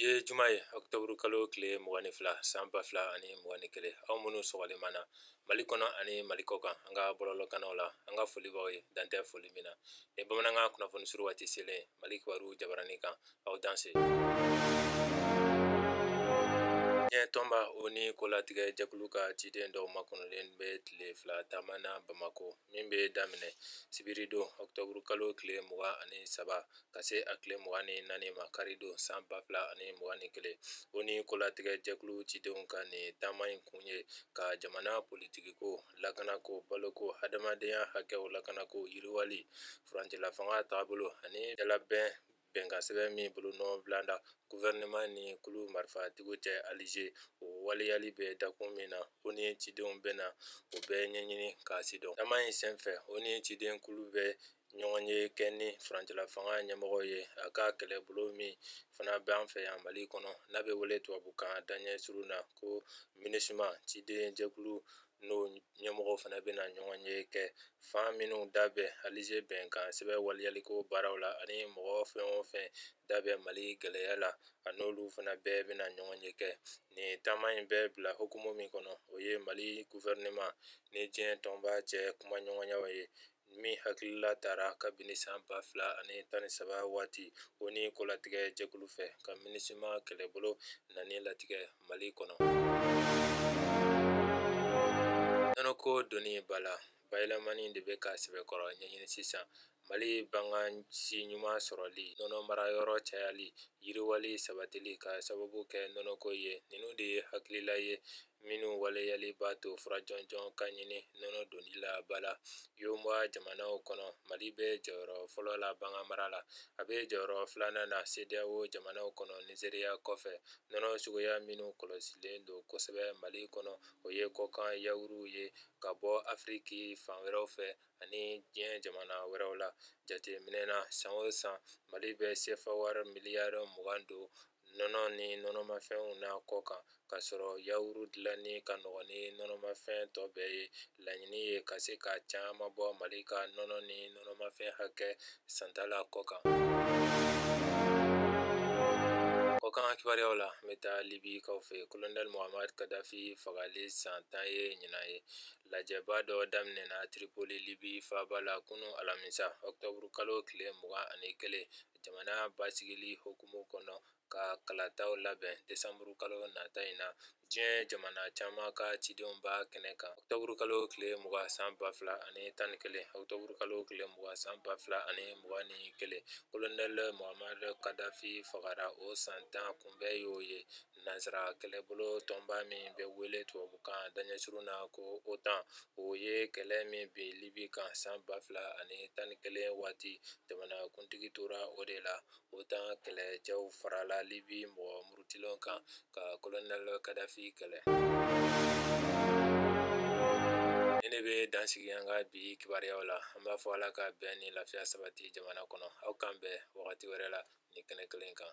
ye juma ye ɔkutɔburu kalo tile mugan ni fila san ba fila ani mugan ni kelen aw minnu sɔgɔlen b'an na mali kɔnɔ ani mali kɔkan an ka bɔlɔlɔkannaw la an ka foli b'aw ye dan tɛ foli min na ni bamanankan kunnafoni suru waati selen mali kibaru jabaranin kan aw danse diɲɛ tɔnba oni kolatigɛ jɛkulu ka ciden dɔw makɔnɔlen bɛ tile fila taama na bamako min bɛ daminɛ sibiridon ɔkutɔburu kalo tile mugan ani saba ka se a tile mugan ni naani ma karidon san ba fila ani mugan ni kelen oni kolatigɛ jɛkulu cidenw ka nin taama in kun ye ka jamana politikiko lakanako baloko hadamadenya hakɛw lakanako yiriwali furancɛla fanga taabolo ani dalabɛn bɛnkan sɛbɛn min bolonɔ bilada gufɛrɛneman ni kulu marifatigiw cɛ alize o waleyali bɛ dakun min na oni cidenw bɛna o bɛɛ ɲɛɲini k'a sidɔn taama in senfɛ oni ciden kulu bɛ ɲɔgɔnye kɛ ni furancɛla fanga ɲɛmɔgɔw ye a ka kɛlɛbolo min fana bɛ an fɛ yan mali kɔnɔ n'a bɛ wele tubabukan daɲɛ surun na ko minisima ciden jɛkulu n'o ɲɛmɔgɔ fana bɛna ɲɔgɔnye kɛ fan minnu da bɛ alize bɛnkan sɛbɛn waleyaliko baaraw la ani mɔgɔ fɛn o fɛn da bɛ mali gɛlɛya la a n'olu fana bɛɛ bɛna ɲɔgɔnye kɛ nin taama in bɛɛ bila hukumu min kɔnɔ o ye mali gufɛrɛneman ni diɲɛ tɔnba cɛ kumaɲɔgɔnyaw ye min hakilila tara kabini san ba fila ani tan ni saba waati oni kolatigɛ jɛkulu fɛ ka minisima kɛlɛbolo nani latigɛ mali kɔnɔ nɔnɔko donni ba la bayɛlɛmani de bɛ ka sɛbɛkɔrɔ ɲɛɲini sisan mali bagansi ɲuman sɔrɔli nɔnɔ mara yɔrɔ cayali yiriwali sabatili ka sababu kɛ nɔnɔko ye ninnu de ye hakilila ye minnu waleyali b'a to fura jɔnjɔn ka ɲini nɔnɔ donni la ba la yemowa jamanaw kɔnɔ mali bɛ jɔyɔrɔ fɔlɔ la baganmara la a bɛ jɔyɔrɔ filanan na sedeyao jamanaw kɔnɔ nizeriya kɔfɛ nɔnɔ suguya minnu kɔlɔsilen don kosɛbɛ mali kɔnɔ o ye kɔkan yawuruw ye ka bɔ afiriki fan wɛrɛw fɛ ani diɲɛ jamana wɛrɛw la jateminɛ na san o san mali bɛ sefa wari miliyari mugan don nɔnɔ ni nɔnɔmafɛnw na kɔkan k'a sɔrɔ yawuru dilanni ka nɔgɔ ni nɔnɔmafɛn tɔ bɛɛ ye laɲini ye ka se ka caman bɔ mali ka nɔnɔ ni nɔnɔmafɛn hakɛ santa la kɔkan kɔkan kibaruyaw la an bɛ taa libikaw fɛ kolonɛli muhamari kadafi fagali san tan ye ɲinan ye lajɛba dɔ daminɛna tiripoli libi faaba la kunun alamisa ɔkutɔburu kalo tile mugan ani kelen jamana basigili hukumu kɔnɔ ka kalataw labɛn desanburu kalo nata in na diɲɛ jamana caman ka cidenw b'a kɛnɛ kan octobre kalo tile mugan san ba fila ani tan ni kelen octobre kalo tile mugan san ba fila ani mugan ni kelen kolonɛli Mohamadu Kadafi fagara o san tan kunbɛn y'o ye Nansara kɛlɛbolo tɔnba min bɛ wele tubabukan daɲɛ surun na ko OTAN o ye kɛlɛ min bin Libye kan san 2011 waati, jamanakuntigi tora o de la, OTAN kɛlɛcɛw farala Libye mɔgɔ murutilenw kan ka colonel Kadhafi kɛlɛ. Nin de bɛ dan sigi an ka bi kibaruyaw la, an b'a fɔ Ala ka bɛn ni lafiya sabati jamana kɔnɔ, aw k'an bɛn. wagati wɛrɛ la nin kɛnɛ kelen kan